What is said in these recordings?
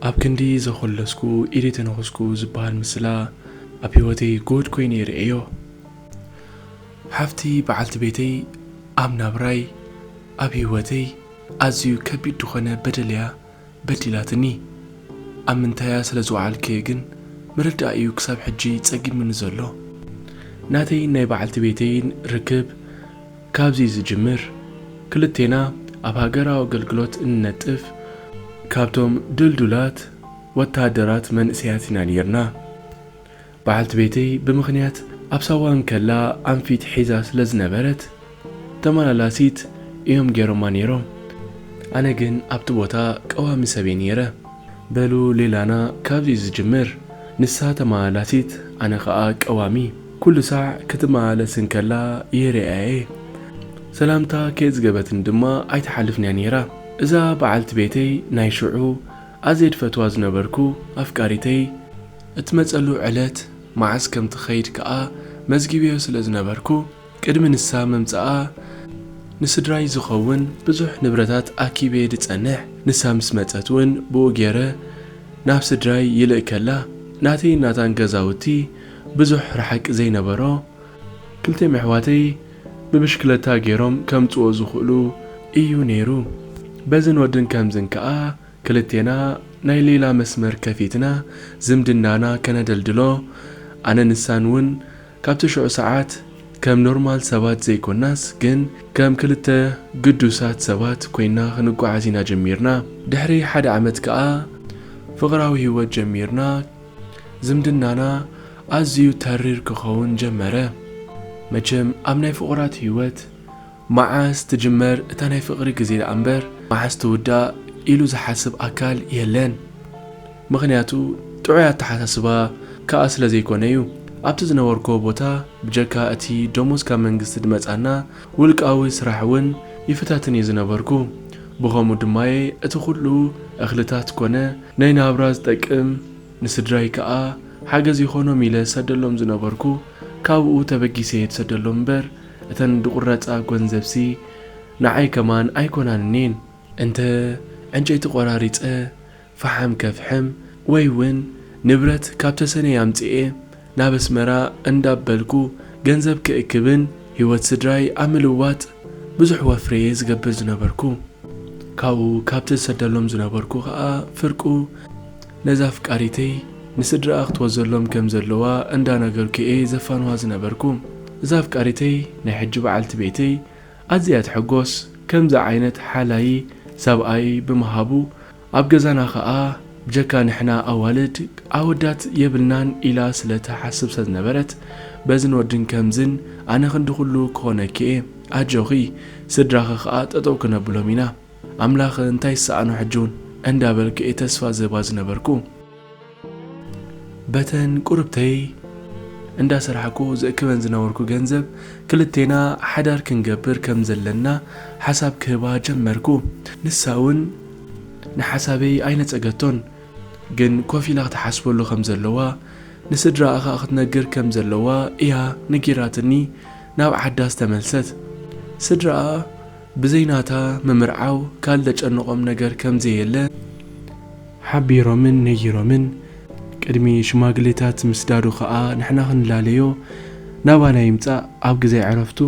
ኣብ ክንዲ ዘኾለስኩ ኢደ ተነኹስኩ ዝበሃል ምስላ ኣብ ህይወተይ ጎድ ኮይኑ ይርእዮ ሓፍቲ በዓልቲ ቤተይ ኣብ ናብራይ ኣብ ህይወተይ ኣዝዩ ከቢድ ዝኾነ በደል እያ በዲላትኒ ኣብ ምንታያ ስለ ዝወዓልክየ ግን ምርዳእ እዩ ክሳብ ሕጂ ጸጊሙኒ ዘሎ። ናተይን ናይ በዓልቲ ቤተይን ርክብ ካብዚ ዝጅምር ክልቴና ኣብ ሃገራዊ ኣገልግሎት እንነጥፍ ካብቶም ድልዱላት ወተሃደራት መንእሰያት ኢና ኔርና። በዓልቲ ቤተይ ብምኽንያት ኣብ ሳዋ እንከላ ኣንፊት ሒዛ ስለ ዝነበረት ተመላላሲት እዮም ገይሮማ ነይሮም። ኣነ ግን ኣብቲ ቦታ ቀዋሚ ሰብ እየ ነይረ። በሉ ሌላና ካብዚ እዩ ዝጅምር። ንሳ ተመላላሲት ኣነ ከኣ ቀዋሚ። ኩሉ ሳዕ ክትመላለስ እንከላ ይርእያ እየ። ሰላምታ ከየጽገበትኒ ድማ ኣይትሓልፍን እያ ነይራ። እዛ በዓልቲ ቤተይ ናይ ሽዑ ኣዝየ ዝፈትዋ ዝነበርኩ ኣፍቃሪተይ፣ እትመጸሉ ዕለት መዓስ ከም ትኸይድ ከኣ መዝጊበዮ ስለ ዝነበርኩ፣ ቅድሚ ንሳ ምምጻኣ ንስድራይ ዝኸውን ብዙሕ ንብረታት ኣኪበየ ድጸንሕ፣ ንሳ ምስ መጸት ውን ብኡ ጌረ ናብ ስድራይ ይልእከላ። ናተይን ናታን ገዛውቲ ብዙሕ ርሓቂ ዘይነበሮ፣ ክልቲኦም የሕዋተይ ብብሽክለታ ጌሮም ከምጽዎ ዝኽእሉ ኢዩ ነይሩ፣ በዝን ወድን ከምዝን ከኣ ክልቴና ናይ ሌላ መስመር ከፊትና ዝምድናና ከነደልድሎ ኣነ ንሳን ውን ካብቲ ሽዑ ሰዓት ከም ኖርማል ሰባት ዘይኮናስ ግን ከም ክልተ ግዱሳት ሰባት ኮይና ክንጓዓዝ ኢና ጀሚርና ድሕሪ ሓደ ዓመት ከኣ ፍቅራዊ ሂወት ጀሚርና ዝምድናና ኣዝዩ ተሪር ክከውን ጀመረ መቸም ኣብ ናይ ፍቁራት ሂወት መዓስ ትጅመር እታ ናይ ፍቅሪ ግዜ ደኣ እምበር መዓስ ትውዳእ ኢሉ ዝሓስብ ኣካል የለን ምኽንያቱ ጥዑይ ኣተሓሳስባ ክኣ ስለ ዘይኮነ እዩ ኣብቲ ዝነበርኩዎ ቦታ ብጀካ እቲ ደሞዝ ካብ መንግስቲ ድመጻና ውልቃዊ ስራሕ ውን ይፍታትን እየ ዝነበርኩ ብኸምኡ ድማየ እቲ ኩሉ እኽልታት ኮነ ናይ ናብራ ዝጠቅም ንስድራይ ክኣ ሓገዝ ይኾኖም ኢለ ዝሰደሎም ዝነበርኩ ካብኡ ተበጊሰ እየ ድሰደሎም እምበር እተን ድቁረጻ ጎንዘብሲ ንዓይ ከማን ኣይኮናንኒን እንተ ዕንጨይቲ ቆራሪጸ ፋሓም ከፍሕም ወይ ውን ንብረት ካብ ተሰነይ ኣምጺኤ ናብ ኣስመራ እንዳበልኩ ገንዘብ ክእክብን ሂወት ስድራይ ኣብ ምልዋጥ ብዙሕ ወፍሪ'የ ዝገብር ዝነበርኩ ካብኡ ካብ ተዝሰደሎም ዝነበርኩ ከኣ ፍርቁ ነዛ ኣፍቃሪተይ ንስድራኣ ክትወዘሎም ከም ዘለዋ እንዳ ነገርኩ'የ ዘፋንዋ ዝነበርኩ። እዛ ኣፍቃሪተይ ናይ ሕጂ በዓልቲ ቤተይ ኣዝያ'ያ ትሕጎስ ከምዚ ዓይነት ሓላዪ ሰብኣይ ብምሃቡ ኣብ ገዛና ከኣ ብጀካ ንሕና ኣዋልድ ኣወዳት የብልናን ኢላ ስለ ትሓስብ ስለ ዝነበረት በዝን ወድን ከምዝን ኣነ ክንዲ ኩሉ ክኾነኪ'የ ኣጆኺ ስድራኺ ከኣ ጠጠው ክነብሎም ኢና ኣምላክ እንታይ ይሰኣኖ ሕጂ ውን እንዳ በልኩ እየ ተስፋ ዝህባ ዝነበርኩ በተን ቁርብተይ እንዳ ሰራሕኩ ዝእክበን ዝነበርኩ ገንዘብ ክልቴና ሓዳር ክንገብር ከም ዘለና ሓሳብ ክህባ ጀመርኩ ንሳ ውን ንሓሳበይ ኣይነጸገቶን ግን ኮፍ ኢላ ክትሓስበሉ ከም ዘለዋ ንስድራኣ ከኣ ክትነግር ከም ዘለዋ እያ ነጊራትኒ ናብ ዓዳ ዝተመልሰት ስድራኣ ብዘይ ናታ ምምርዓው ካልእ ዘጨንቖም ነገር ከም ዘየለ ሓቢሮምን ነጊሮምን። ቅድሚ ሽማግሌታት ምስዳዱ ከኣ ንሕና ክንላለዮ ናባና ይምጻእ ኣብ ግዜ ዕረፍቱ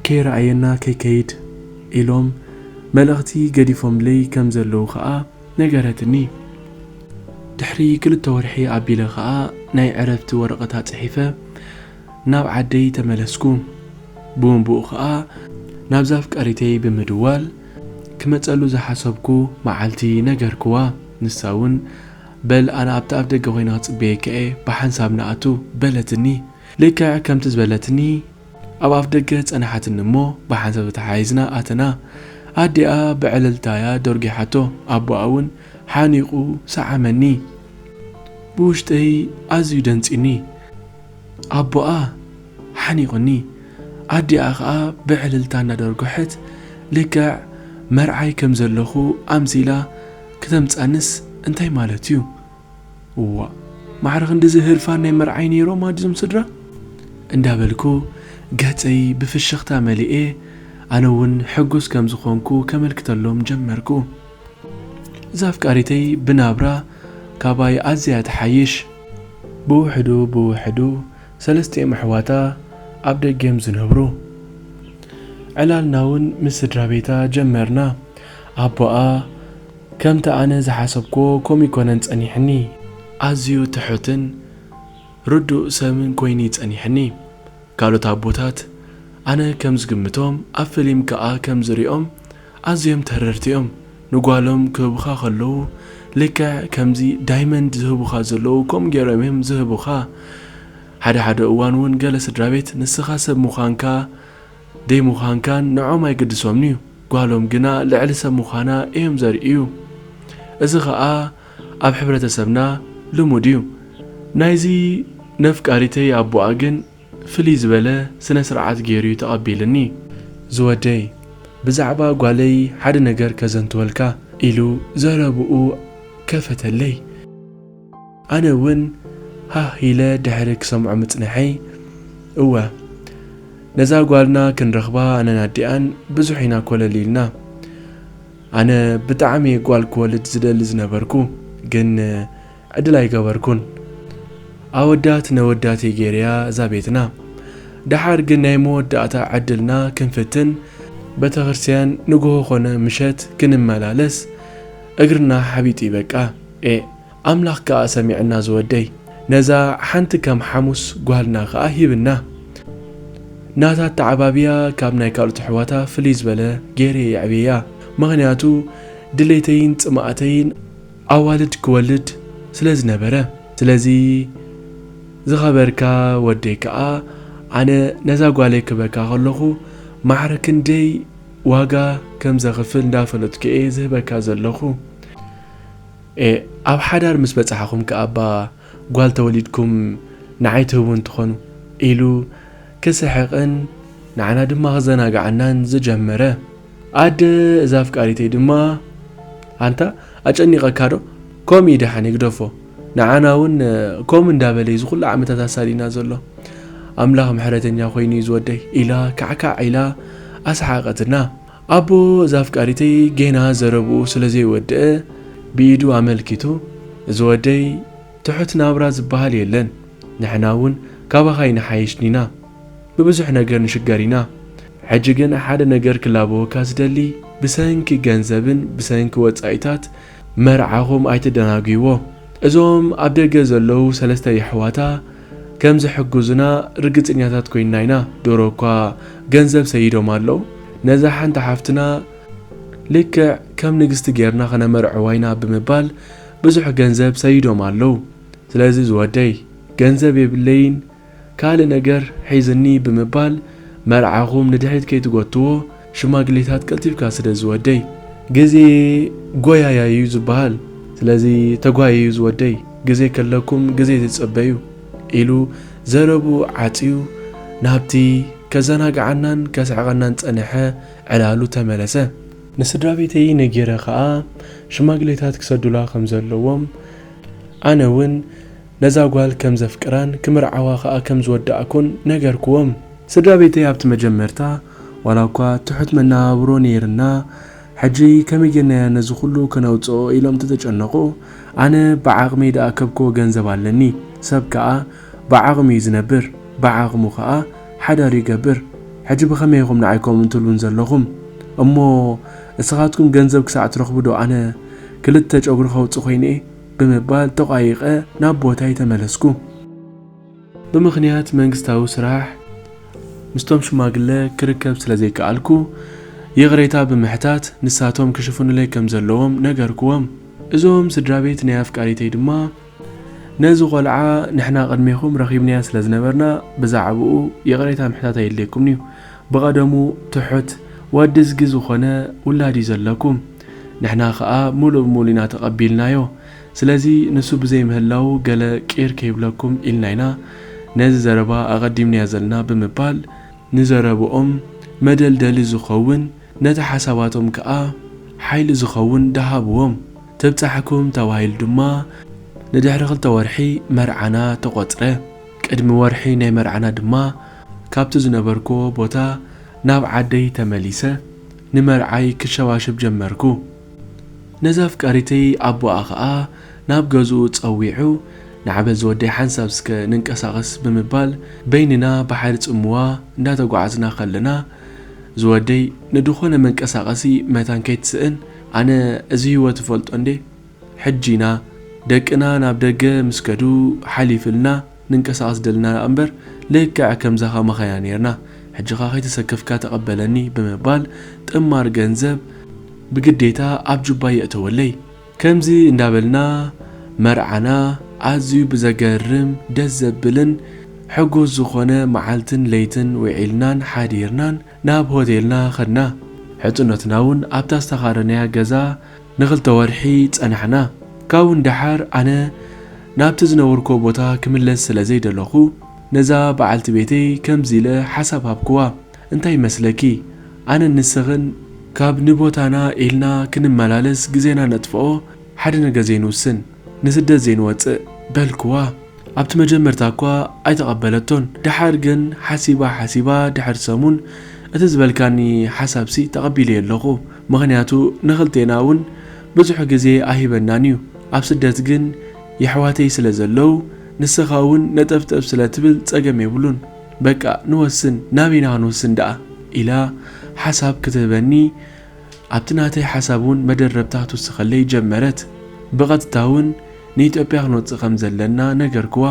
ከይረኣየና ከይከይድ ኢሎም መልእኽቲ ገዲፎምለይ ከም ዘለዉ ከኣ ነገረትኒ። ድሕሪ ክልተ ወርሒ ኣቢለ ከኣ ናይ ዕረፍቲ ወረቐታ ጽሒፈ ናብ ዓደይ ተመለስኩ። ብኡንብኡ ከኣ ናብዛ ኣፍቃሪተይ ብምድዋል ክመጸሉ ዝሓሰብኩ መዓልቲ ነገርክዋ። ንሳ ውን በል ኣነ ኣብቲ ኣፍደገ ኮይነ ክጽበየካ'የ ብሓንሳብ ንኣቱ በለትኒ። ልክዕ ከምቲ ዝበለትኒ ኣብ ኣፍደገ ጸንሓትኒ እሞ ብሓንሳብ ተተሓሒዝና ኣተና። ኣዲኣ ብዕልልታ'ያ ደርጒሓቶ። ኣቦኣ ውን ሓኒቑ ሰዓመኒ። ብውሽጠይ ኣዝዩ ደንጽዩኒ። ኣቦኣ ሓኒቑኒ፣ ኣዲኣ ኸኣ ብዕልልታ እናደርጐሐት ልክዕ መርዓይ ከም ዘለኹ ኣምሲላ ክተምጽኣንስ እንታይ ማለት'ዩ? እዋእ ማዕረ ክንድዚ ህርፋን ናይ መርዓይ ነይሮም ኣድ እዞም ስድራ? እንዳበልኩ ገጸይ ብፍሽኽታ መሊኤ ኣነ'ውን ሕጉስ ከም ዝዀንኩ ከመልክተሎም ጀመርኩ። እዛ ኣፍቃሪተይ ብናብራ ካባይ ኣዝያ ትሓይሽ። ብውሕዱ ብውሕዱ ሰለስቲኦም ኣሕዋታ ኣብ ደገ'ዮም ዝነብሩ። ዕላልና'ውን ምስ ስድራቤታ ጀመርና። ኣቦኣ ከምቲ ኣነ ዝሓሰብክዎ ከምኡ ኣይኮነን ጸኒሕኒ። ኣዝዩ ትሑትን ርዱእ ሰብን ኮይኑ'ዩ ጸኒሕኒ። ካልኦት ኣቦታት ኣነ ከም ዝግምቶም ኣብ ፍሊም ከኣ ከም ዝሪኦም ኣዝዮም ተረርቲኦም ንጓሎም ክህቡኻ ከለዉ ልክዕ ከምዚ ዳይመንድ ዝህቡኻ ዘለዉ ከምኡ ጌሮም እዮም ዝህቡኻ ሓደ ሓደ እዋን ውን ገለ ስድራቤት ንስኻ ሰብ ምዃንካ ደይምዃንካን ንዖም ኣይግድሶምንዩ ጓሎም ግና ልዕሊ ሰብ ምዃና እዮም ዘርእዩ እዚ ኸኣ ኣብ ሕብረተሰብና ልሙድ እዩ ናይዚ ነፍቃሪተይ ኣቡኣ ግን ፍልይ ዝበለ ስነ ስርዓት ጌሩዩ ተቀቢልኒ። ዝወደይ ብዛዕባ ጓለይ ሓደ ነገር ከዘንትወልካ ኢሉ ዘረብኡ ከፈተለይ ኣነ ውን ሃህ ኢለ ድሕሪ ክሰምዖ ምጽንሐይ እወ ነዛ ጓልና ክንረክባ ኣነን ኣዲኣን ብዙሕ ኢና ኮለል ኢልና ኣነ ብጣዕሚየ ጓል ክወልድ ዝደሊ ዝነበርኩ ግን ዕድል ኣይገበርኩን ኣወዳት ነወዳት እየ ገይረያ እዛ ቤትና ደሓር ግን ናይ መወዳእታ ዕድልና ክንፍትን በተክርስትያን ንግሆ ኮነ ምሸት ክንመላለስ እግርና ሓቢጡ እዩ በቃ ኤእ ኣምላክ ከኣ ሰሚዕና ዝወደይ ነዛ ሓንቲ ከም ሓሙስ ጓልና ከኣ ሂብና ናታ ኣተዓባብያ ካብ ናይ ካልኦት ኣሕዋታ ፍልይ ዝበለ ገይረ የዕብየያ ምክንያቱ ድሌተይን ጽማእተይን ኣዋልድ ክወልድ ስለ ዝነበረ። ስለዚ ዝኸበርካ ወደይ ከኣ ኣነ ነዛ ጓለይ ክህበካ ከለኹ ማዕረ ክንደይ ዋጋ ከም ዘኽፍል እንዳፈለጥኩ እየ ዝህበካ ዘለኹ። ኤእ ኣብ ሓዳር ምስ በጻሕኹም ከኣ'ባ ጓል ተወሊድኩም ንዓይ ትህቡኒ ትኾኑ። ኢሉ ክስሕቕን ንዓና ድማ ክዘናግዓናን ዝጀመረ። ኣደ እዛ ኣፍቃሪተይ ድማ ኣንታ ኣጨኒቐካ ዶ ከምኡ እዩ ደሓን ይግደፎ ንዓና እውን ከምኡ እንዳበለ እዩ ዝኹሉ ዓመታት ኣሳዲና ዘሎ ኣምላኽ ምሕረተኛ ኮይኑ እዩ ዝወደይ ኢላ ካዕካዕ ኢላ ኣስሓቐትና ኣቦ እዛ ኣፍቃሪተይ ጌና ዘረብኡ ስለ ዘይወድአ ብኢዱ ኣመልኪቱ እዚ ወደይ ትሑት ናብራ ዝበሃል የለን ንሕና እውን ካባኻ ይንሓይሽ ኒና ብብዙሕ ነገር ንሽገር ኢና ሕጂ ግን ሓደ ነገር ክላበወካ ዝደሊ ብሰንኪ ገንዘብን ብሰንኪ ወጻኢታት መርዓኹም ኣይተደናጉይዎ እዞም ኣብ ደገ ዘለዉ ሰለስተ የሕዋታ ከም ዝሕግዙና ርግጽኛታት ኮይንና ኢና ዶሮ እኳ ገንዘብ ሰይዶም ኣለዉ ነዛ ሓንቲ ሓፍትና ልክዕ ከም ንግስቲ ጌርና ክነመርዕዋ ኢና ብምባል ብዙሕ ገንዘብ ሰይዶም ኣለዉ ስለዚ ዝወደይ ገንዘብ የብለይን ካልእ ነገር ሒዝኒ ብምባል መርዓኹም ንድሕሪት ከይትጎትዎ ሽማግሌታት ቀልጢፍካ ስደድ ዝወደይ ግዜ ጎያያይ እዩ ዝበሃል ስለዚ ተጓየዩ ዝወደይ ግዜ ከለኩም ግዜ ተጸበዩ ኢሉ ዘረብኡ ዓጽዩ ናብቲ ከዘናግዓናን ከስሕቐናን ዝጸንሐ ዕላሉ ተመለሰ። ንስድራቤተይ ነጊረ ከኣ ሽማግሌታት ክሰዱላ ከም ዘለዎም ኣነ ውን ነዛ ጓል ከም ዘፍቅራን ክምርዓዋ ከኣ ከም ዝወዳእኩን ነገርኩዎም። ስድራ ቤተይ ኣብቲ መጀመርታ ዋላኳ ትሑት መነባብሮ ነይርና ሕጂ ከመይ ጌርናዮ ነዚ ኩሉ ከነውጽኦ ኢሎም ተተጨነቁ ኣነ ብዓቅመይ ድኣከብኩዎ ገንዘብ ኣለኒ ሰብ ከኣ ብዓቅሙ እዩ ዝነብር ብዓቅሙ ከኣ ሓዳሩ ይገብር ሕጂ ብከመይ ኢኩም ንዓይ ከምኡ ትብሉን ዘለኩም እሞ እስካትኩም ገንዘብ ክሳዕ ትረክቡ ዶ ኣነ ክልተ ጨጉሪ ከውጽእ ኮይነ ብምባል ተቋይቐ ናብ ቦታይ ተመለስኩ። ብምኽንያት መንግስታዊ ስራሕ ምስቶም ሽማግለ ክርከብ ስለ ዘይከኣልኩ ይቕሬታ ብምሕታት ንሳቶም ክሽፍኑለይ ከም ዘለዎም ነገርኩዎም። እዞም ስድራቤት ናይ ኣፍቃሪተይ ድማ ነዚ ቆልዓ ንሕና ቅድሜኹም ረኺብናዮ ስለ ዝነበርና ብዛዕብኡ ይቕሬታ ምሕታት ኣየድልየኩምን'ዩ። ብቐደሙ ትሑት ወድዝጊ ዝኾነ ውላድ'ዩ ዘለኩም። ንሕና ከኣ ምሉእ ብምሉእ ኢና ተቐቢልናዮ። ስለዚ ንሱ ብዘይ ምህላዉ ገለ ቂር ከይብለኩም ኢልና ኢና ነዚ ዘረባ ኣቐዲምናዮ ዘለና ብምባል፣ ንዘረብኦም መደልደሊ ዝኸውን ነቲ ሓሳባቶም ከኣ ሓይሊ ዝኸውን ደሃብዎም። ትብጻሕኩም ተባሂሉ ድማ ንድሕሪ ክልተ ወርሒ መርዓና ተቖጽረ። ቅድሚ ወርሒ ናይ መርዓና ድማ ካብቲ ዝነበርኩዎ ቦታ ናብ ዓደይ ተመሊሰ። ንመርዓይ ክሸባሸብ ጀመርኩ። ነዛ ኣፍቃሪተይ ኣቦኣ ከኣ ናብ ገዝኡ ጸዊዑ ንዓ በዚ ወደይ ሓንሳብ ስከ ንንቀሳቐስ ብምባል በይንና ባሕሪ ጽምዋ እንዳተጓዓዝና ከለና እዚ ወደይ ንድኾነ መንቀሳቐሲ መታን ከይትስእን ኣነ እዚ ሂወት እፈልጦ እንዴ ሕጂና ደቅና ናብ ደገ ምስ ከዱ ሓሊፍልና ንንቀሳቀስ ደልና ደኣምበር ልክዕ ከምዛ ከማኻ ኢና ኔርና ሕጂኻ ከይተሰከፍካ ተቀበለኒ ብምባል ጥማር ገንዘብ ብግዴታ ኣብ ጁባይ የእተወለይ። ከምዚ እንዳበልና መርዓና ኣዝዩ ብዘገርም ደስ ዘብልን ሕጉስ ዝኾነ መዓልትን ለይትን ዊዒልናን ሓዲርናን ናብ ሆቴልና ከድና። ሕጽኖትና ውን ኣብታ ዝተኻረናያ ገዛ፣ ንኽልተ ወርሒ ጸናሕና። ካብኡ ንደሓር ኣነ ናብቲ ዝነበርኩዎ ቦታ ክምለስ ስለ ዘይደለኹ፣ ነዛ በዓልቲ ቤተይ ከምዚ ኢለ ሓሳብ ሃብኩዋ፣ እንታይ ይመስለኪ? ኣነን ንስኽን ካብ ንቦታና ኢልና ክንመላለስ ግዜና ነጥፍኦ ሓደ ነገር ዘይንውስን፣ ንስደት ዘይንወጽእ? በልኩዋ። ኣብቲ መጀመርታ እኳ ኣይተቐበለቶን። ደሓር ግን ሓሲባ ሓሲባ ድሕሪ ሰሙን፣ እቲ ዝበልካኒ ሓሳብሲ ተቐቢለዮ ኣለኹ። ምኽንያቱ ንኽልቴና ውን ብዙሕ ግዜ ኣይህበናን ዩ ኣብ ስደት ግን የሕዋተይ ስለ ዘለው ንስኻ ውን ነጠፍጠፍ ስለ ትብል ጸገም የብሉን በቃ ንወስን ናበይ ኢና ክንውስን ደኣ ኢላ ሓሳብ ክትህበኒ ኣብቲ ናተይ ሓሳብ ውን መደረብታ ክትውስኸለይ ጀመረት ብቐጥታ ውን ንኢትዮጵያ ክንወጽእ ከም ዘለና ነገርክዋ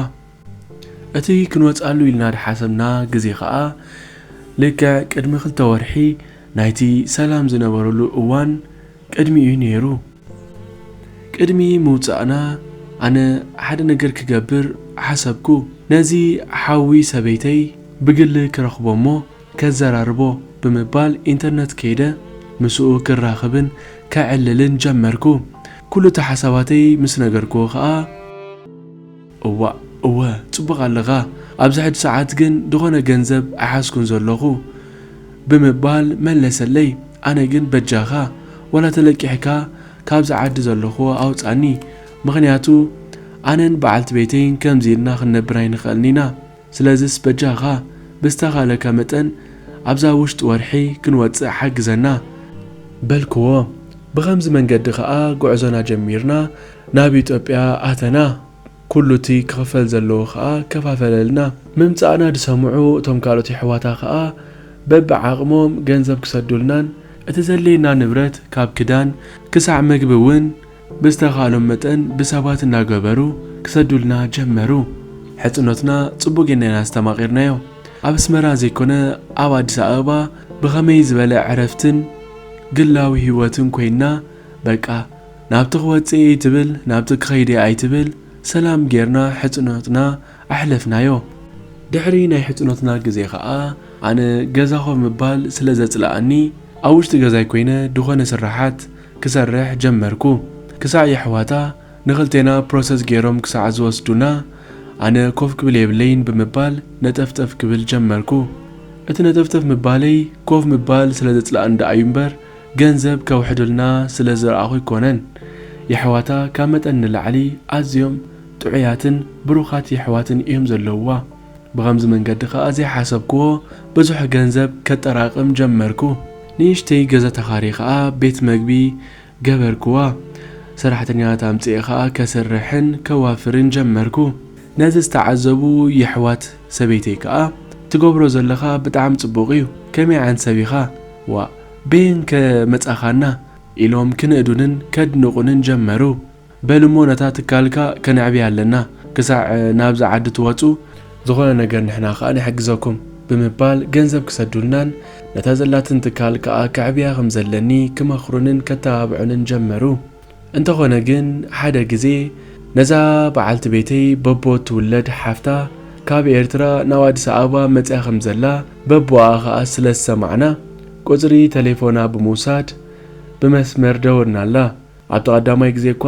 እቲ ክንወጽኣሉ ኢልና ዝሓሰብና ግዜ ከኣ ልክዕ ቅድሚ ክልተ ወርሒ ናይቲ ሰላም ዝነበረሉ እዋን ቅድሚ እዩ ነይሩ። ቅድሚ ምውጻእና ኣነ ሓደ ነገር ክገብር ሓሰብኩ። ነዚ ሓዊ ሰበይተይ ብግሊ ክረኽቦ'ሞ ከዘራርቦ ብምባል ኢንተርነት ከይደ ምስኡ ክራኽብን ከዕልልን ጀመርኩ። ኩሉ'ቲ ሓሳባተይ ምስ ነገርኩዎ ከኣ። እዋእ እወ ጽቡቅ ኣለኻ ኣብዚ ሕጂ ሰዓት ግን ድኾነ ገንዘብ ኣይሓዝኩን ዘለኹ ብምባል መለሰለይ ኣነ ግን በጃኻ ዋላ ተለቂሕካ ካብዚ ዓዲ ዘለኹዎ ኣውጻኒ ምኽንያቱ ኣነን በዓልቲ ቤተይን ከምዚ ኢልና ክንነብር ኣይንኽእልን ኢና ስለዝስ በጃኻ ብዝተኻለካ መጠን ኣብዛ ውሽጢ ወርሒ ክንወጽእ ሓግዘና። በልክዎ። ብኸምዚ መንገዲ ከኣ ጉዕዞና ጀሚርና ናብ ኢትዮጵያ ኣተና። ኩሉቲ ክኽፈል ዘለዎ ከኣ ከፋፈለልና። ምምጻእና ዝሰምዑ እቶም ካልኦት የሕዋታ ከኣ በብዓቕሞም ገንዘብ ክሰዱልናን፣ እቲ ዘድልየና ንብረት ካብ ክዳን ክሳዕ መግቢ ውን ብዝተኻእሎም መጠን ብሰባት እናገበሩ ክሰዱልና ጀመሩ። ሕጽኖትና ጽቡቕ ጌርና ኢና ኣስተማቒርናዮ። ኣብ ኣስመራ ዘይኮነ ኣብ ኣዲስ ኣበባ ብኸመይ ዝበለ ዕረፍትን ግላዊ ህይወትን ኮይንና በቃ ናብቲ ክወጽእ እየ ኣይትብል ናብቲ ክኸይድ እየ ኣይትብል ሰላም ጌርና ሕጽኖትና ኣሕለፍናዮ። ድሕሪ ናይ ሕጽኖትና ግዜ ከኣ ኣነ ገዛ ኮፍ ምባል ስለ ዘጽለኣኒ ኣብ ውሽጢ ገዛይ ኮይነ ድኾነ ስርሓት ክሰርሕ ጀመርኩ ክሳዕ የሕዋታ ንክልቴና ፕሮሰስ ጌሮም ክሳዕ ዝወስዱና ኣነ ኮፍ ክብል የብለይን ብምባል ነጠፍጠፍ ክብል ጀመርኩ እቲ ነጠፍጠፍ ምባለይ ኮፍ ምባል ስለ ዘጽልኣኒ ደኣዩ እምበር ገንዘብ ከውሕዱልና ስለ ዝረኣኹ ኣይኮነን የሕዋታ ካብ መጠን ንላዕሊ ኣዝዮም ጥዑያትን ብሩኻት የሕዋትን እዮም ዘለውዋ ብኸምዚ መንገዲ ከኣ ዘይሓሰብክዎ ብዙሕ ገንዘብ ከጠራቕም ጀመርኩ። ንእሽተይ ገዛ ተኻርየ ከኣ ቤት መግቢ ገበርክዋ። ሰራሕተኛታት ኣምጺኤ ከኣ ከስርሕን ከዋፍርን ጀመርኩ። ነዚ ዝተዓዘቡ የሕዋት ሰበይተይ ከኣ ትገብሮ ዘለኻ ብጣዕሚ ጽቡቕ እዩ፣ ከመይ ዓይነት ሰብ ኢኻ? ዋእ በየንከ መጻኻና? ኢሎም ክንእዱንን ከድንቑንን ጀመሩ። በል እሞ ነታ ትካልካ ከነዕብያ ኣለና ክሳዕ ናብዛ ዓዲ ትወጹ፣ ዝኾነ ነገር ንሕና ከኣ ንሕግዘኩም ብምባል ገንዘብ ክሰዱልናን ነታ ዘላትን ትካል ከኣ ከዕብያ ከም ዘለኒ ክመኽሩንን ከተባብዑንን ጀመሩ። እንተኾነ ግን ሓደ ግዜ ነዛ በዓልቲ ቤተይ በቦ እትውለድ ሓፍታ ካብ ኤርትራ ናብ ኣዲስ ኣበባ መጺኣ ከም ዘላ በቦኣ ከኣ ስለ ዝሰማዕና ቁጽሪ ተሌፎና ብምውሳድ ብመስመር ደወልናላ። ኣብቲ ቀዳማይ ግዜ እኳ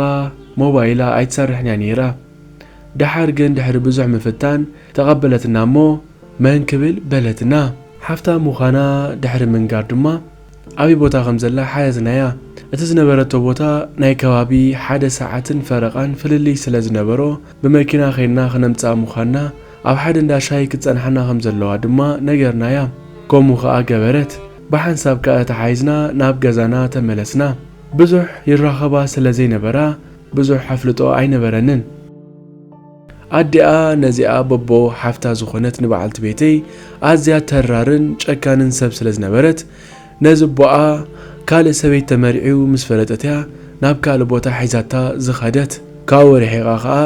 ሞባይላ ኣይትሰርሕን እያ ነይራ። ደሓር ግን ድሕሪ ብዙሕ ምፍታን ተቐበለትና እሞ መን ክብል በለትና። ሓፍታ ምዃና ድሕሪ ምንጋር ድማ ኣበይ ቦታ ከም ዘላ ሓተትናያ። እቲ ዝነበረቶ ቦታ ናይ ከባቢ ሓደ ሰዓትን ፈረቓን ፍልልይ ስለ ዝነበሮ ብመኪና ከይድና ክነምጽኣ ምዃንና ኣብ ሓደ እንዳ ሻሂ ክትጸንሓና ከም ዘለዋ ድማ ነገርናያ። ከምኡ ከኣ ገበረት። ብሓንሳብ ከኣ ተተሓሒዝና ናብ ገዛና ተመለስና። ብዙሕ ይራኸባ ስለ ዘይነበራ ብዙሕ ኣፍልጦ ኣይነበረንን። ኣዲኣ ነዚኣ በቦ ሓፍታ ዝኾነት ንበዓልቲ ቤተይ ኣዝያ ተራርን ጨካንን ሰብ ስለ ዝነበረት ነዚ ኣቦኣ ካልእ ሰበይት ተመርዕዩ ምስ ፈለጠት'ያ ናብ ካልእ ቦታ ሒዛታ ዝኸደት። ካብኡ ርሒቓ ከኣ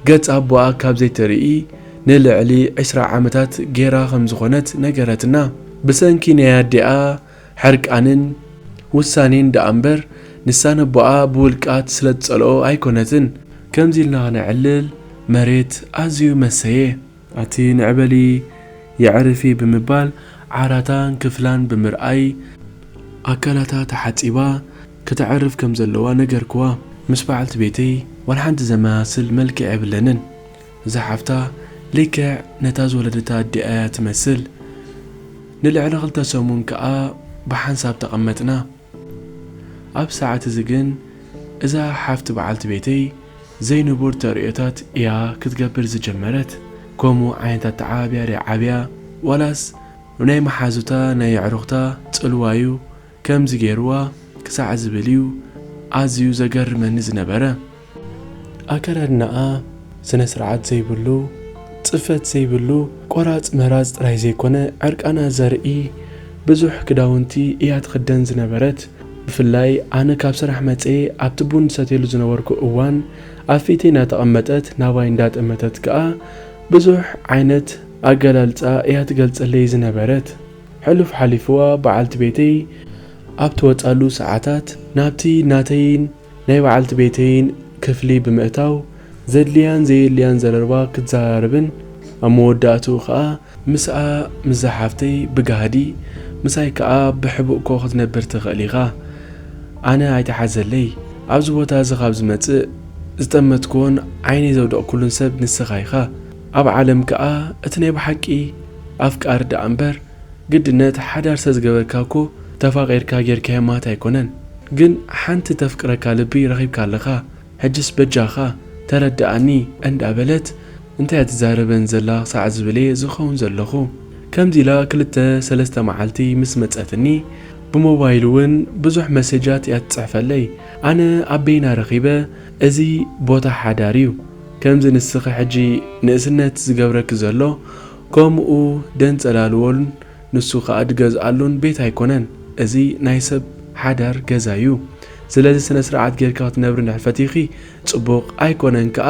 ገጽ ኣቦኣ ካብ ዘይትርኢ ንልዕሊ ዕስራ ዓመታት ጌራ ከም ዝኾነት ነገረትና። ብሰንኪ ናይ ኣዲኣ ሕርቃንን ውሳኔን ደኣ እምበር ንሳ ነቦኣ ብውልቃት ስለ ትጸልኦ ኣይኮነትን። ከምዚ ኢልና ክነዕልል መሬት ኣዝዩ መሰየ። ኣቲ ንዕበሊ የዕርፊ ብምባል ዓራታን ክፍላን ብምርኣይ ኣካላታ ተሓጺባ ከተዕርፍ ከም ዘለዋ ነገርክዋ። ምስ በዓልቲ ቤተይ ዋላ ሓንቲ ዘመሳስል መልክዕ የብለንን። እዛ ሓፍታ ልክዕ ነታ ዝወለደታ ኣዲኣ እያ ትመስል። ንልዕሊ ክልተ ሰሙን ከኣ ብሓንሳብ ተቐመጥና። ኣብ ሰዓት እዚ ግን እዛ ሓፍቲ በዓልቲ ቤተይ ዘይንቡር ተርእዮታት እያ ክትገብር ዝጀመረት። ከምኡ ዓይነት ኣተዓባብያ ደይ ዓብያ ዋላስ ናይ መሓዙታ ናይ የዕሩኽታ ጽልዋ እዩ ከምዚ ገይርዋ ክሳዕ ዝብል እዩ ኣዝዩ ዘገርመኒ ዝነበረ። ኣከዳድናኣ ስነ ስርዓት ዘይብሉ፣ ጽፈት ዘይብሉ፣ ቆራጽ መራጽ ጥራይ ዘይኮነ ዕርቃና ዘርኢ ብዙሕ ክዳውንቲ እያ ትኽደን ዝነበረት። ብፍላይ ኣነ ካብ ስራሕ መጽየ ኣብቲ ቡን ዝሰትየሉ ዝነበርኩ እዋን ኣብ ፊተይ እናተቐመጠት ናባይ እንዳጠመተት ከኣ ብዙሕ ዓይነት ኣገላልጻ እያ ትገልጸለይ ዝነበረት። ሕሉፍ ሓሊፍዋ በዓልቲ ቤተይ ኣብ ትወጻሉ ሰዓታት ናብቲ ናተይን ናይ በዓልቲ ቤተይን ክፍሊ ብምእታው ዘድልያን ዘየድልያን ዘረባ ክትዘራረብን ኣብ መወዳእትኡ ከኣ ምስኣ ምስዛ ሓፍተይ ብጋህዲ ምሳይ ከኣ ብሕቡእኮ ክትነብር ትኽእል ኢኻ ኣነ ኣይትሓዘለይ ኣብዚ ቦታ እዚ ካብ ዝመጽእ ዝጠመትክዎን ዓይነይ ዘውደቕኩሉን ሰብ ንስኻ ኢኻ ኣብ ዓለም ከኣ እቲ ናይ ብሓቂ ኣፍቃሪ ደኣ እምበር ግድነት ሓዳር ሰዝገበርካ እኮ ተፋቂርካ ጌርካዮ ማት ኣይኮነን ግን ሓንቲ ተፍቅረካ ልቢ ረኪብካ ኣለካ ሕጅስ በጃካ ተረደኣኒ እንዳ በለት እንታይ እያ ትዛረበኒ ዘላ ክሳዕ ዝብል እየ ዝከውን ዘለኩ ከምዚ ኢላ ክልተ ሰለስተ መዓልቲ ምስ መጸትኒ ብሞባይል እውን ብዙሕ መሴጃት እያ ትጽሕፈለይ ኣነ ኣበይና ረኪበ እዚ ቦታ ሓዳር እዩ ከምዚ ንስኺ ሕጂ ንእስነት ዝገብረኪ ዘሎ ኮሙኡ ደንጸላልዎን ንሱ ክኣ ድገዝኣሉን ቤት ኣይኮነን እዚ ናይ ሰብ ሓዳር ገዛ ዩ ስለዚ ስነ ስርዓት ጌርኪ ክትነብሪ እንድሕር ፈቲኺ ጽቡቅ ኣይኮነን ክኣ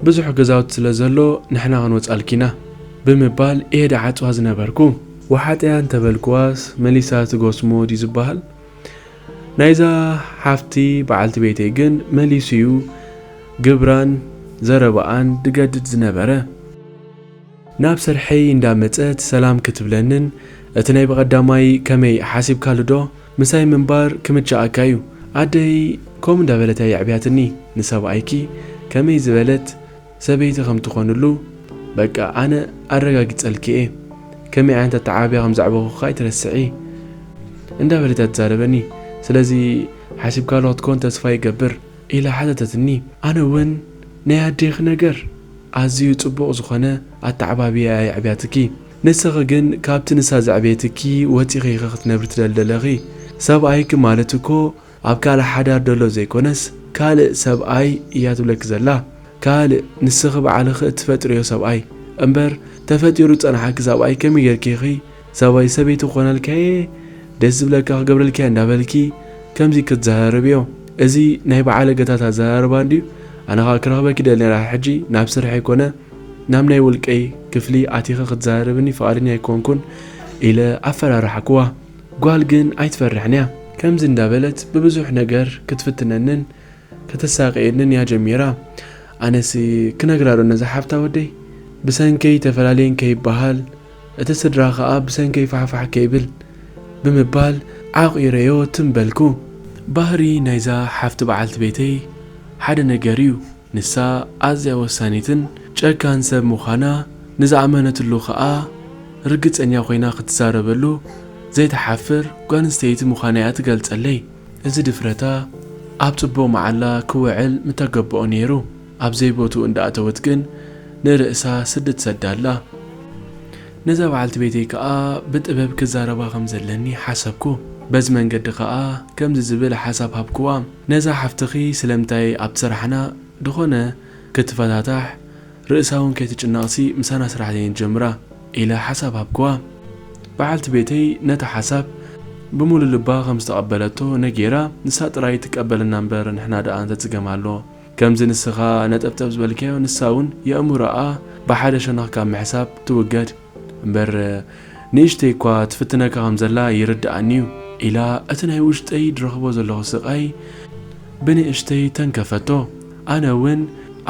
ብዙሕ ገዛውቲ ስለ ዘሎ ንሕና ክንወጻልኪ ኢና ብምባል እየ ድዓጽዋ ዝነበርኩ። ወሓጠያ እንተበልክዋስ መሊሳ ትጎስሞ ድዩ ዝበሃል። ናይዛ ሓፍቲ በዓልቲ ቤተይ ግን መሊሱ'ዩ ግብራን ዘረባኣን ዝገድድ ዝነበረ። ናብ ስርሐይ እንዳ መጸት ሰላም ክትብለንን እቲ ናይ ብቐዳማይ ከመይ ሓሲብካሉ'ዶ ምሳይ ምንባር ክምችኣካ'ዩ ኣደይ ከምኡ እንዳበለት'ያ የዕብያትኒ ንሰብኣይኪ ከመይ ዝበለት ሰበይቲ ከም ትኾንሉ በቃ ኣነ ኣረጋጊጸልኪ እየ ከመይ ዓይነት ኣተዓባብያ ከም ዘዕበኹኪ ኣይትረስዒ እንዳበለት እያ ትዛረበኒ ስለዚ ሓሲብካሉ ክትኮን ተስፋ ይገብር ኢላ ሓተተትኒ ኣነ ውን ናይ ኣዴኺ ነገር ኣዝዩ ጽቡቕ ዝኾነ ኣተዓባብያ እያ የዕብያትኪ ንስኺ ግን ካብቲ ንሳ ዘዕበየትኪ ወጺኺ ኢኺ ክትነብሪ ትደሊ ደለኺ ሰብኣይኪ ማለት እኮ ኣብ ካልእ ሓዳር ደሎ ዘይኮነስ ካልእ ሰብኣይ እያ ትብለኪ ዘላ ካልእ ንስኺ ባዕልኺ እትፈጥርዮ ሰብኣይ እምበር ተፈጢሩ ዝጸንሓኪ ሰብኣይ ከመይ ጌርኪ ኢኺ ሰብይ ሰበይቲ ክኾነልካየ ደስ ዝብለካ ክገብረልኪየ እንዳበልኪ ከምዚ ክትዘራረብዮ እዚ ናይ በዓለገታት ኣዘራርባ እንድዩ ኣነ ከኣ ክረኽበኪ ይደሊ ነይረ ሕጂ ናብ ስርሐይ ኮነ ናብ ናይ ውልቀይ ክፍሊ ኣቲኺ ክትዘራረብኒ ፍቓደኛ ኣይኮንኩን ኢለ ኣፈራራሕክዋ ጓል ግን ኣይትፈርሕን እያ። ከምዚ እንዳበለት ብብዙሕ ነገር ክትፍትነንን ከተሳቅየንን እያ ጀሚራ። ኣነሲ ክነግራ ዶ ነዛ ሓብታ ወደይ ብሰንከይ ተፈላለየን ከይበሃል እቲ ስድራ ከኣ ብሰንከይ ፋሕፋሕ ከይብል ብምባል ዓቂረዮ ትም በልኩ። ባህሪ ናይዛ ሓፍቲ በዓልቲ ቤተይ ሓደ ነገር እዩ። ንሳ ኣዝያ ወሳኒትን ጨካን ሰብ ምዃና ንዝኣመነትሉ ከኣ ርግጸኛ ኮይና ክትዛረበሉ ዘይትሓፍር ጓልንስተይቲ ምዃና'ያ ትገልጸለይ። እዚ ድፍረታ ኣብ ጽቡቕ መዓላ ክውዕል ምተገብኦ ነይሩ። ኣብ ዘይቦትኡ እንዳኣተወት ግን ንርእሳ ስዲ ትሰዳላ። ነዛ በዓልቲ ቤተይ ከኣ ብጥበብ ክዛረባ ከም ዘለኒ ሓሰብኩ። በዚ መንገዲ ከኣ ከምዚ ዝብል ሓሳብ ሃብክዋ። ነዛ ሓፍትኺ ስለምንታይ ኣብቲ ስራሕና ድኾነ ክትፈታታሕ ርእሳ ውን ከይትጭነቕሲ ምሳና ስራሕ ዘይንጀምራ? ኢለ ሓሳብ ሃብክዋ። በዓልቲ ቤተይ ነቲ ሓሳብ ብሙሉእ ልባ ከም ዝተቐበለቶ ነጊራ ንሳ ጥራይ ትቀበለና እምበር ንሕና ደኣ እንታይ ጽገም ኣሎ? ከምዚ ንስኻ ነጠብጠብ ዝበልካዮ ንሳ ውን የእምሮኣ ብሓደ ሸነኽ ካብ ምሕሳብ ትውገድ። እምበር ንእሽተይ እኳ ትፍትነካ ከም ዘላ ይርድኣኒ እዩ ኢላ እቲ ናይ ውሽጠይ ድረኽቦ ዘለኹ ስቓይ ብንእሽተይ ተንከፈቶ። ኣነ እውን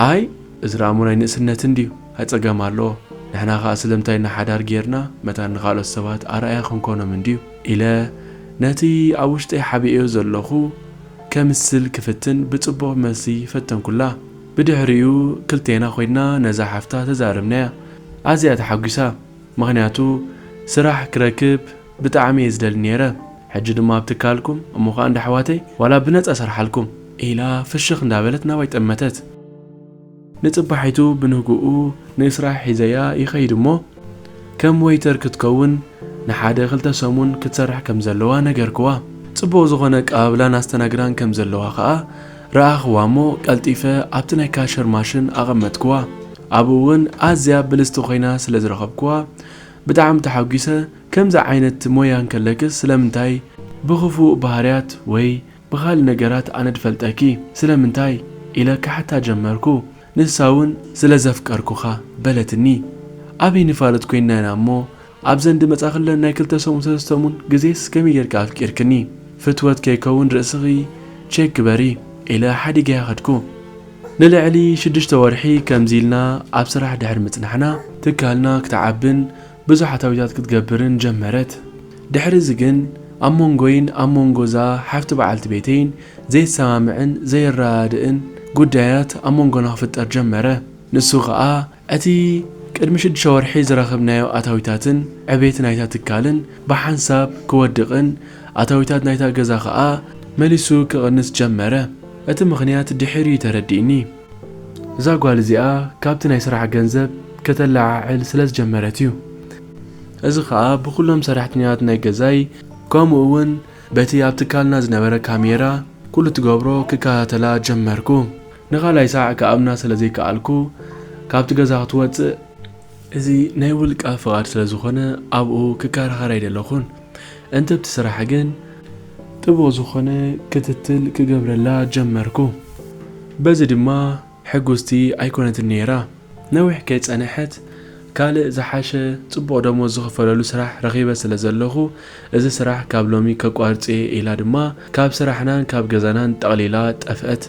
ኣይ እዚ ደኣሞ ናይ ንእስነት እንድዩ ኣይ ጸገም ኣለዎ ንሕና ከኣ ስለምንታይ ኢና ሓዳር ጌርና መታን ንኻልኦት ሰባት ኣርኣያ ክንኮኖም እንድዩ ኢለ ነቲ ኣብ ውሽጠይ ሓቢኤዮ ዘለኹ ከምስል ክፍትን ብጽቡቕ መልሲ ፈተንኩላ። ብድሕሪኡ ክልቴና ኮይና ነዛ ሓፍታ ተዛረብናያ። ኣዝያ ተሓጒሳ ምኽንያቱ ስራሕ ክረክብ ብጣዕሚ እየ ዝደሊ ኔረ ሕጂ ድማ ኣብ ትካልኩም እሞ ከኣ እንዳ ኣሕዋተይ ዋላ ብነጻ እሰርሓልኩም ኢላ ፍሽኽ እንዳበለት ናባይ ጠመተት። ንጽባሒቱ ብንግኡ ንስራሕ ሒዘያ ይኸይድ እሞ ከም ወይተር ክትከውን ንሓደ ክልተ ሰሙን ክትሰርሕ ከም ዘለዋ ነገርክዋ ጽቡቕ ዝኾነ ኣቀባብላን ኣስተናግዳን ከም ዘለዋ ከኣ ረኣኽዋ እሞ ቀልጢፈ ኣብቲ ናይ ካሸር ማሽን ኣቐመጥክዋ። ኣብኡ እውን ኣዝያ ብልጽቲ ኮይና ስለ ዝረኸብክዋ ብጣዕሚ ተሓጒሰ፣ ከምዚ ዓይነት ሞያ እንከለክስ ስለምንታይ ብኽፉእ ባህርያት ወይ ብኻልእ ነገራት ኣነ ድፈልጠኪ ስለምንታይ? ኢለ ክሓታ ጀመርኩ። ንሳ እውን ስለ ዘፍቀርኩኻ በለትኒ። ዓቢ ንፋሉት ኮይንና ኢና እሞ ኣብዚ እንድመጻ ክለን ናይ ክልተ ሰሙን ሰለስተ ሰሙን ግዜስ ከመይ ጌርኪ ኣፍቂርክኒ ፍትወት ከይከውን ርእስኺ ቼክ ግበሪ ኢለ ሓዲገያ ከድኩ። ንልዕሊ ሽዱሽተ ወርሒ ከምዚ ኢልና ኣብ ስራሕ ድሕሪ ምጽናሕና ትካልና ክትዓብን ብዙሕ ኣታዊታት ክትገብርን ጀመረት። ድሕሪ እዚ ግን ኣብ ሞንጎይን ኣብ ሞንጎ እዛ ሓፍቲ በዓልቲ ቤተይን ዘይሰማምዕን ዘይረዳድእን ጉዳያት ኣብ ሞንጎና ክፍጠር ጀመረ። ንሱ ከኣ እቲ ቅድሚ ሽዱሽተ ወርሒ ዝረኸብናዮ ኣታዊታትን ዕቤት ናይታ ትካልን ብሓንሳብ ክወድቕን ኣታዊታት ናይታ ገዛ ከኣ መሊሱ ክቕንስ ጀመረ። እቲ ምኽንያት ድሒር እዩ ተረዲእኒ። እዛ ጓል እዚኣ ካብቲ ናይ ስራሕ ገንዘብ ከተለዓዕል ስለ ዝጀመረት እዩ። እዚ ከኣ ብኹሎም ሰራሕተኛታት ናይ ገዛይ ከምኡ እውን በቲ ኣብ ትካልና ዝነበረ ካሜራ ኩሉ እትገብሮ ክከታተላ ጀመርኩ። ንኻልኣይ ሳዕ ክኣምና ስለ ዘይከኣልኩ ካብቲ ገዛ ክትወጽእ። እዚ ናይ ውልቃ ፍቓድ ስለ ዝኾነ ኣብኡ ክከራኸር ኣይደለኹን፣ እንትብቲ ስራሕ ግን። ጥቡቕ ዝኾነ ክትትል ክገብረላ ጀመርኩ፣ በዚ ድማ ሕጉስቲ ኣይኮነትን ነይራ። ነዊሕ ከይጸነሐት ካልእ ዝሓሸ ጽቡቕ ደሞዝ ዝኽፈለሉ ስራሕ ረኺበ ስለ ዘለኹ እዚ ስራሕ ካብ ሎሚ ከቋርጽ'የ ኢላ ድማ ካብ ስራሕናን ካብ ገዛናን ጠቕሊላ ጠፍአት።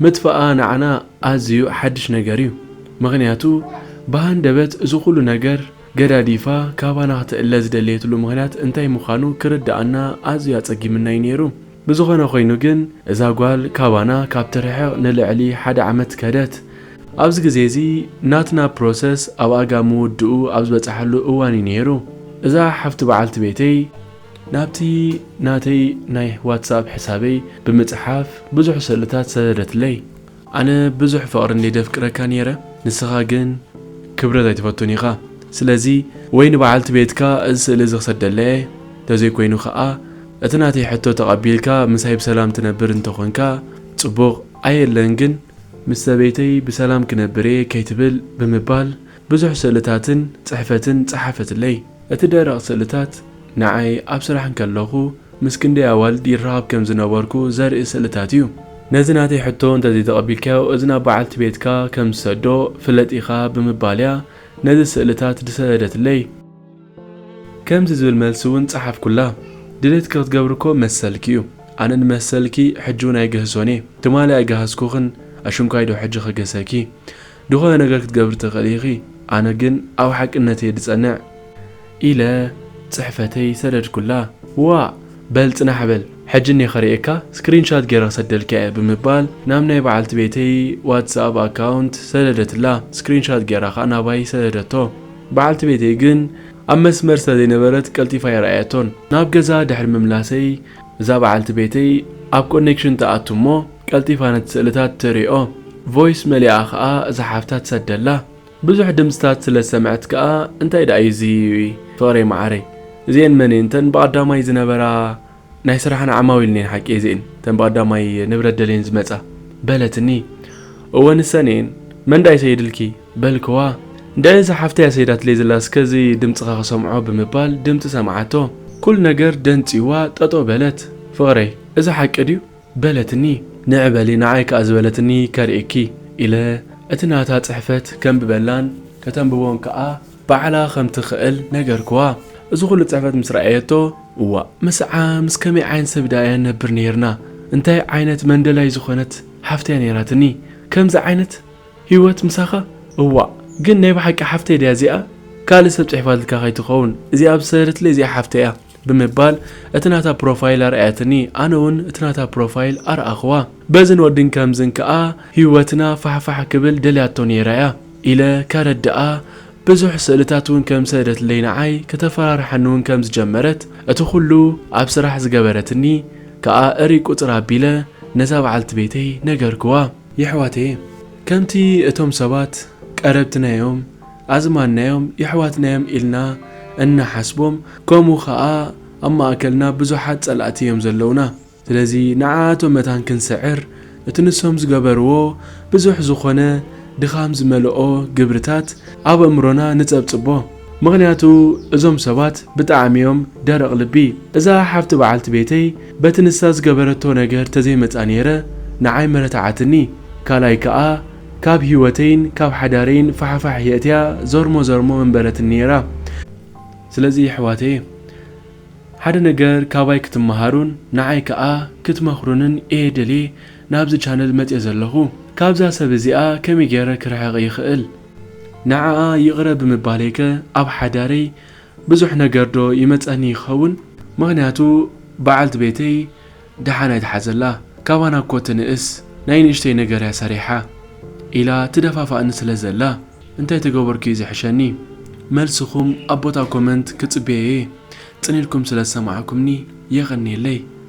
ምጥፍኣ ንዓና ኣዝዩ ሓድሽ ነገር'ዩ፣ ምኽንያቱ ብሃንደበት እዚ ኹሉ ነገር ገዳዲፋ ካባና ክትእለ ዝደለየትሉ ምኽንያት እንታይ ምዃኑ ክርድኣና ኣዝዩ ኣጸጊምና'ዩ ነይሩ። ብዝኾነ ኮይኑ ግን እዛ ጓል ካባና ካብ ትርሕቕ ንልዕሊ ሓደ ዓመት ከደት። ኣብዚ ግዜ እዚ ናትና ፕሮሰስ ኣብ ኣጋ ምውድኡ ኣብ ዝበጸሐሉ እዋን እዩ ነይሩ። እዛ ሓፍቲ በዓልቲ ቤተይ ናብቲ ናተይ ናይ ዋትስኣፕ ሕሳበይ ብምጽሓፍ ብዙሕ ስእልታት ሰደደትለይ። ኣነ ብዙሕ ፍቅሪ እንድየ ደፍቅረካ ኔረ ንስካ ግን ክብረት ኣይትፈቱን ኢካ ስለዚ ወይ ንበዓልቲ ቤትካ እዚ ስእሊ እዚ ክሰደላ እየ ተዘይ ኮይኑ ከኣ እቲ ናተይ ሕቶ ተቀቢልካ ምሳይ ብሰላም ትነብር እንተ ኮንካ ጽቡቅ ኣየለን ግን ምስ ሰበይተይ ብሰላም ክነብር እየ ከይትብል ብምባል ብዙሕ ስእልታትን ጽሕፈትን ጸሓፈትለይ። እቲ ደረቕ ስእልታት ንዓይ ኣብ ስራሕ እንከለኹ ምስ ክንደይ ኣዋልድ ይራኸብ ከም ዝነበርኩ ዘርኢ ስእልታት እዩ። ነዚ ናተይ ሕቶ እንተዘይተቐቢልካዮ እዚ ናብ በዓልቲ ቤትካ ከም ዝሰዶ ፍለጥ ኢኻ ብምባል እያ ነዚ ስእልታት ዝሰደደትለይ። ከምዚ ዝብል መልሲ እውን ጸሓፍኩላ፣ ድሌትኪ ክትገብሪ እኮ መሰልኪ እዩ። ኣነ ንመሰልኪ ሕጂ እውን ኣይግህሶን እየ። ትማሊ ኣይገሃስኩኽን ኣሽንኳይዶ ሕጂ ክግህሰኪ? ድኾነ ነገር ክትገብሪ ትኽእሊ ኢኺ፣ ኣነ ግን ኣብ ሓቅነተይ'የ ድጸንዕ። ኢለ ጽሕፈተይ ሰደድኩላ። ዋእ! በል ጽናሕ በል፣ ሕጂ እኔ ከርእየካ፣ ስክሪን ሻት ገይረ ክሰደልካ'የ፣ ብምባል ናብ ናይ በዓልቲ ቤተይ ዋትስኣብ ኣካውንት ሰደደትላ። ስክሪን ሻት ገይራ ከኣ ናባይ ሰደደቶ። በዓልቲ ቤተይ ግን ኣብ መስመር ስለ ዘይነበረት ቀልጢፋ ኣይረኣየቶን። ናብ ገዛ ድሕሪ ምምላሰይ፣ እዛ በዓልቲ ቤተይ ኣብ ኮኔክሽን ትኣቱ'ሞ፣ ቀልጢፋ ነቲ ስእልታት ትሪኦ ቮይስ መሊኣ ከኣ እዛ ሓፍታ ትሰደላ ብዙሕ ድምጽታት ስለ ዝሰምዐት ከኣ እንታይ ደኣ እዩ እዚ ፍቅረይ መዓረይ እዚኤን መን እየን እተን ብቀዳማይ ዝነበራ ናይ ስራሕና ዓማዊል እኔን ሓቂ እዚኤን እተን ብቀዳማይ ንብረት ደልየን ዝመጻ በለትኒ እወ ንሰን እየን መን ደኣ ይሰይድልኪ በልክዋ እንድዒ እዛ ሓፍተይ እያ ሰይዳትለይ ዘላ እስከ እዚ ድምጽኻ ክሰምዖ ብምባል ድምጺ ሰምዓቶ ኩሉ ነገር ደንጽዩዋ ጠጠው በለት ፍቅረይ እዚ ሓቂ ድዩ በለትኒ ንዒ በሊ ንዓይ ከኣ ዝበለትኒ ከርእየኪ ኢለ እቲ ናታ ጽሕፈት ከንብበላን ከተንብቦን ከኣ ባዕላ ከም ትኽእል ነገርክዋ እዚ ኩሉ ጽሕፈት ምስ ረኣየቶ እዋእ ምስዓ ምስ ከመይ ዓይነት ሰብ ደኣ እያ ንነብር ኔርና እንታይ ዓይነት መንደላይ ዝኾነት ሓፍቲ እያ ኔራትኒ ከምዚ ዓይነት ሂወት ምሳኻ እዋእ ግን ናይ ብሓቂ ሓፍተይ ድያ እዚኣ ካልእ ሰብ ጽሒፋትልካ ከይትኸውን እዚኣ ኣብ ዝሰደደትለይ እዚኣ ሓፍተይ እያ ብምባል እቲ ናታ ፕሮፋይል ኣርኣየትኒ ኣነ ውን እቲ ናታ ፕሮፋይል ኣርኣኽዋ በዝን ወድን ከምዝን ከኣ ሂወትና ፋሕፋሕ ክብል ደልያቶ ኔራ እያ ኢለ ከረድኣ ብዙሕ ስእልታት ውን ከም ሰደትለይ ንዓይ ከተፈራርሓኒ ውን ከም ዝጀመረት እቲ ኩሉ ኣብ ስራሕ ዝገበረትኒ ከኣ እርይ ቁጽር ኣቢለ ነዛ በዓልቲ ቤተይ ነገርክዋ። የሕዋተየ ከምቲ እቶም ሰባት ቀረብትና እዮም ኣዝማድናዮም የሕዋትናዮም ኢልና እንሓስቦም ከምኡ ከኣ ኣብ ማእከልና ብዙሓት ጸላእቲ እዮም ዘለውና ስለዚ ንዓኣቶም መታን ክንስዕር እቲ ንሶም ዝገበርዎ ብዙሕ ዝኾነ ድኻም ዝመልኦ ግብርታት ኣብ ኣእምሮና ንጸብጽቦ ምኽንያቱ እዞም ሰባት ብጣዕሚ እዮም ደረቕ ልቢ እዛ ሓፍቲ በዓልቲ ቤተይ በቲ ንሳ ዝገበረቶ ነገር ተዘይመጻ ኔረ ንዓይ ምረታዓትኒ ካልኣይ ከኣ ካብ ሂወተይን ካብ ሓዳረይን ፋሕፋሕ የእትያ ዘርሞ ዘርሞ ምበለትኒ ኔራ ስለዚ የሕዋተየ ሓደ ነገር ካባይ ክትመሃሩን ንዓይ ከኣ ክትመኽሩንን እየ ደልየ ናብዚ ቻነል መጽየ ዘለኹ ካብዛ ሰብ እዚኣ ከመይ ጌረ ክርሕቕ ይኽእል ንዓኣ ይቕረ ብምባለይ ከ ኣብ ሓዳረይ ብዙሕ ነገር ዶ ይመጸኒ ይኸውን ምኽንያቱ በዓልቲ ቤተይ ደሓን ኣይትሓዘላ ካባና እኮ ትንእስ ናይ ንእሽተይ ነገር እያ ሰሪሓ ኢላ ትደፋፋእኒ ስለ ዘላ እንታይ ተገበርኩ እዩ ዝሕሸኒ መልስኹም ኣብ ቦታ ኮመንት ክጽበዮ እየ ጽን ኢልኩም ስለ ዝሰማዕኩምኒ የቀንየለይ።